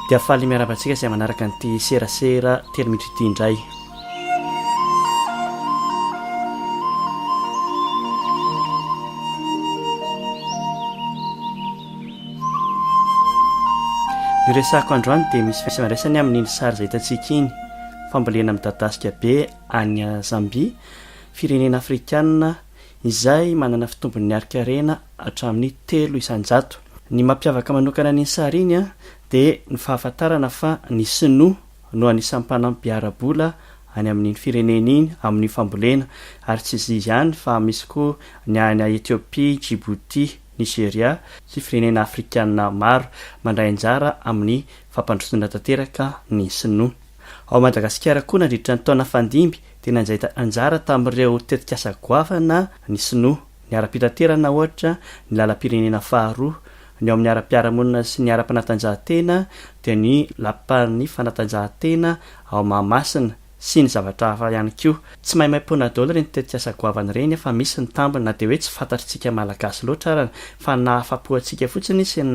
dia faly miarahaba antsika izay manaraka an'ity serasera telo minitra ity indray ny resako androany dia misy fisimandraisany amin'iny sary izay hitantsika iny fambolena midadasika be any zambia firenena afrikana izay manana fitombon'ny harin-karena hatramin'ny telo isan-jato. Ny mampiavaka manokana an'iny sary iny dia ny fahafantarana fa ny Sinoa no anisan'ny mpanampy ara-bola any amin'iny firenena iny amin'io fambolena, ary tsy izy ihany fa misy koa ny any Ethiopie, Djibouti, Nigeria sy firenena afrikana maro mandray anjara amin'ny fampandrosoana tanteraka ny Sinoa ao Madagasikara koa nandritra ny taona fandimby. dia nandray anjara tamin'ireo tetikasa goavana ny Sinoa. Ny ara-pitaterana, ohatra, ny lalam-pirenena faharoa, ny eo amin'ny ara-piarahamonina sy ny ara-panatanjahantena, dia ny lapan'ny fanatanjahantena ao Mahamasina, sy ny zavatra hafa ihany koa. Tsy maimaim-poana daholo ireny tetikasa goavana ireny fa misy ny tambiny na dia hoe tsy fantatr'isika Malagasy loatra arany fa ny nahafapo antsika fotsiny sy ny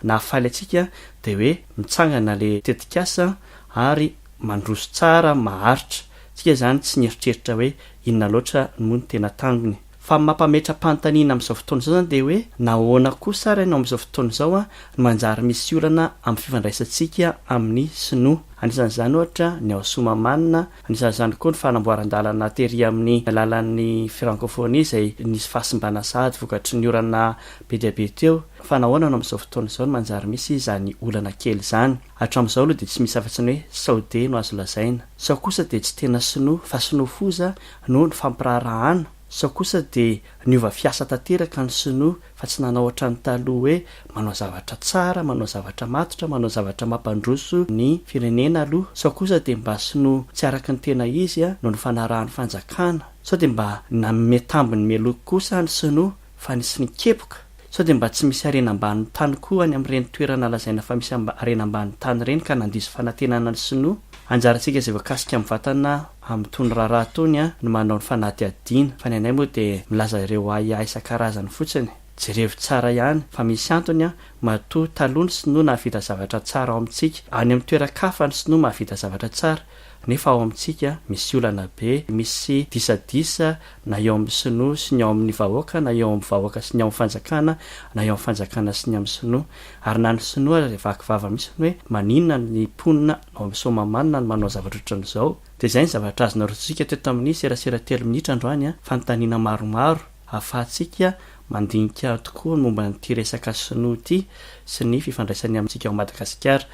nahafaly antsika dia hoe mitsangana ilay tetikasa ary mandroso tsara, maharitra, tsika izany tsy nieritreritra hoe inona loatra moa ny tena tangony. Fa ny mampametra-panontaniana amin'izao fotoana izao izany dia hoe nahoana kosa ary ianao amin'izao fotoana izao no manjary misy olana amin'ny fifandraisantsika amin'ny sinoa. Anisan'izany ohatra ny ao Somamanina, anisan'izany koa ny fanamboaran-dalana tery amin'ny alalan'ny Frankôfônia izay nisy fahasimbana sahady vokatry ny orana be dia be teo. Fa nahoana no amin'izao fotoana izao no manjary misy izany olana kely izany? Hatramin'izao aloha dia tsy misy afa-tsy ny hoe Saodia no azo lazaina. Sao kosa dia tsy tena Sinoa fa Sinoa foza no nifampiraharahana? Sao kosa dia niova fiasa tanteraka ny Sinoa fa tsy nanao ohatran'ny taloha hoe manao zavatra tsara, manao zavatra matotra, manao zavatra mampandroso ny firenena aloha? Sao kosa dia mba Sinoa tsy araka ny tena izy no nifanarahan'ny fanjakana? Sao dia mba nanome tambiny meloky kosa ny Sinoa? fa nisy nikepoka, sao dia mba tsy misy harena ambanin'ny tany koa any amin'ireny toerana lazaina fa misy harena ambanin'ny tany ireny ka nandiso fanantenana ny sinoa? Anjarantsika izay voakasika amin'ny vatana amin'itony raharaha itony no manao ny fanadihadiana fa ny anay moa dia milaza ireo ahiahy isan-karazany fotsiny. Jerevo tsara ihany fa misy antony matoa taloha ny sinoa nahavita zavatra tsara ao amintsika, any amin'ny toeran-kafa ny sinoa mahavita zavatra tsara Nefa ao amintsika misy olana be, misy disadisa na eo amin'ny sinoa sy ny ao amin'ny vahoaka na eo amin'ny vahoaka sy ny ao amin'ny fanjakana na eo amin'ny fanjakana sy ny amin'ny sinoa. Ary na ny sinoa aza dia vaky vava mihitsy ny hoe maninona ny mponina ao amin'ny Soamahamanina no manao zavatra ohatran'izao. Dia izay ny zavatra azonareo tsisika teto amin'ny serasera telo minitra androany, fanontaniana maromaro. Ahafahantsika mandinika tokoa ny momba an'ity resaka sinoa ity sy ny fifandraisany amintsika ao Madagasikara.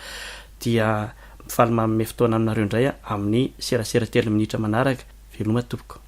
Dia mifaly manome fotoana aminareo indray amin'ny serasera telo minitra manaraka. Veloma tompoko.